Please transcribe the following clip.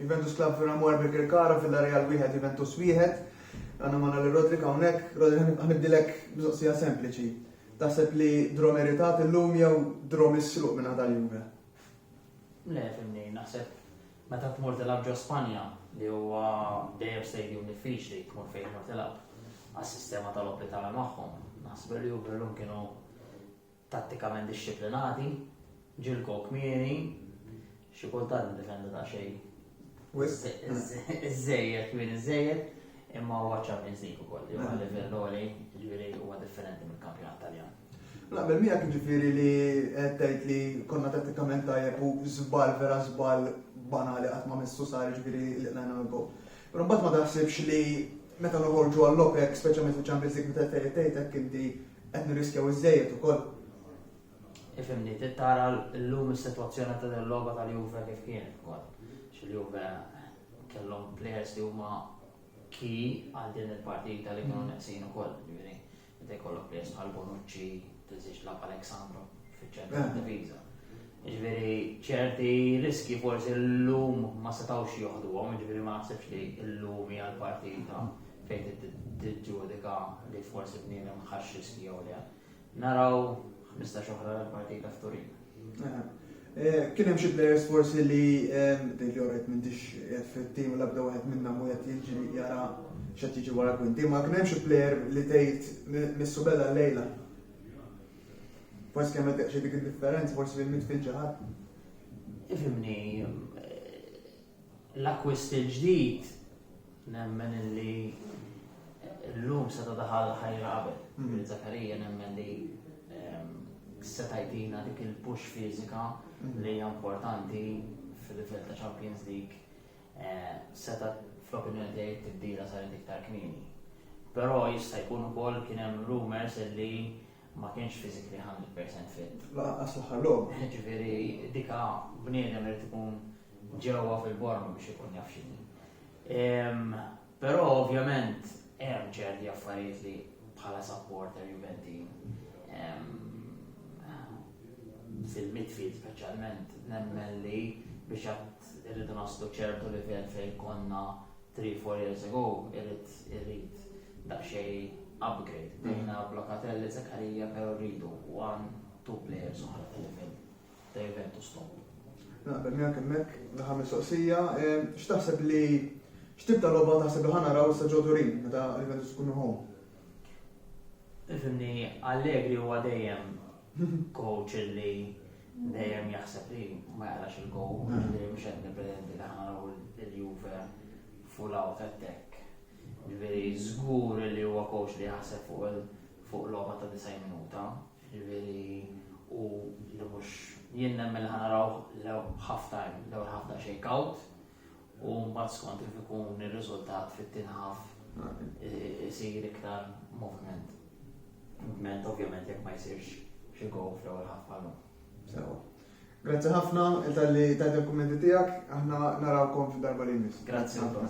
Juventus Club Vera Moer Birkirkara Villarreal wieħed Juventus wieħed. Għandna magħna lil Rodri hawnhekk. Rodri ħanibdilek mistoqsija sempliċi. Taħseb li draw meritat illum jew draw misruq minn ħadha l-Juve? Le, fimni, naħseb meta tmur tilab ġo Spanja li huwa dejjem stadium diffiċli tmur fejn tmur tilab għas-sistema tal-oppitali magħhom. Naħseb li Juve llum kienu tattikament dixxiplinati, ġilkom kmieni, xi kultant niddefendu daqsxejn wisq iż-żejjed kmieni iż-żejjed, imma huwa Champions League ukoll, li huwa livell għoli, jiġifieri huwa differenti mill-kampjonat Taljan. Naqbel miegħek jiġifieri li qed tgħid li konna tattikament tajjeb u żball vera żball banali qatt ma missu sar jiġifieri li qlajna l-gowl. Però mbagħad ma taħsibx li meta noħorġu għall-OPEC, speċjalment fil-Champions League meta tgħid tgħid hekk inti Qed nirriskjaw iżżejjed ukoll. Ifhimni, trid tara llum is-sitwazzjoni ta' din logħba tal-Juve kif kienet ukoll. Xil-Juve kellhom players li huma ki għal din il-partita li kienu mm. neqsin ukoll, ġifieri. Meta jkollok players bħal Bonucci, tiżix lab Alexandro fiċ-ċentru eh. diviża. Ġifieri ċerti riski forsi llum ma setgħux joħduhom, ġifieri ma naħsibx li llum hija l-partita mm. fejn tiġġudika li forsi bniedem ħax riski jew le. Naraw 15 oħra l-partita f'Turin. Eh, kien hemm xi players forsi li din li orret m'intix qed fit-tim l-abda wieħed minna mu qed jiġri jara x'qed jiġi wara kwinti, ma kien hemm xi player li tgħid missu beda lejla. Forsi kemm qed xi dik id-differenza forsi li mitfil ġaħat. Ifimni, L-akkwist il-ġdid nemmen li llum seta' daħal ħajr qabel. Ġifieri Zakarija nemmen li ehm, seta' jtina dik il-push fiżika li hija importanti fil-livell ta' Champions League eh, seta' fl-opinjoni tiegħi tibdila saret iktar kmieni. Però jista' jkun ukoll kien hemm rumors li ma kienx physically 100% fit. Laqqas l-aħħar logħba. Ġifieri dika bniedem irid ikun ġewwa fil-borm biex ikun jaf x'inhi. Però ovvjament hemm ċerti affarijiet li bħala supporter Juventin fil-midfield speċjalment nemmen li biex għad irridu naslu ċertu livell fejn konna Three, four years ago irrid irrid daqsxejn upgrade. Bdejna b'Locatelli, Zakaria, però rridu one, two players oħra fil-livell ta' Juventus top. Naqbel miegħek hemmhekk l-aħħar mistoqsija, eh, x'taħseb li x'tib ta' logħba taħseb li ħana raw sa ġo Turin meta Juventus tkun home? Ifimni Allegri huwa dejjem coach li dejjem jaħseb li ma jaqrax il-gow, mm. li mhux qed nippretendi li ħanaraw il-Juve full out attack. Ġifieri żgur li huwa coach li jaħseb fuq il- fuq logħba ta' 90 minuta, ġifieri u li mhux jien nemmen ħanaraw l-ewwel half time, l-ewwel half ta' shake out, u mbagħad skont kif ikun ir-riżultat fit-tinħaf eh, isir iktar movement. Movement ovvjament jekk ma jsirx xi gow fl-ewwel ħaf għallu. Sewa. Grazzi ħafna tal-li ta' dokumenti tiegħek, aħna narawkom fid-darba li jmiss. Grazzi ħafna.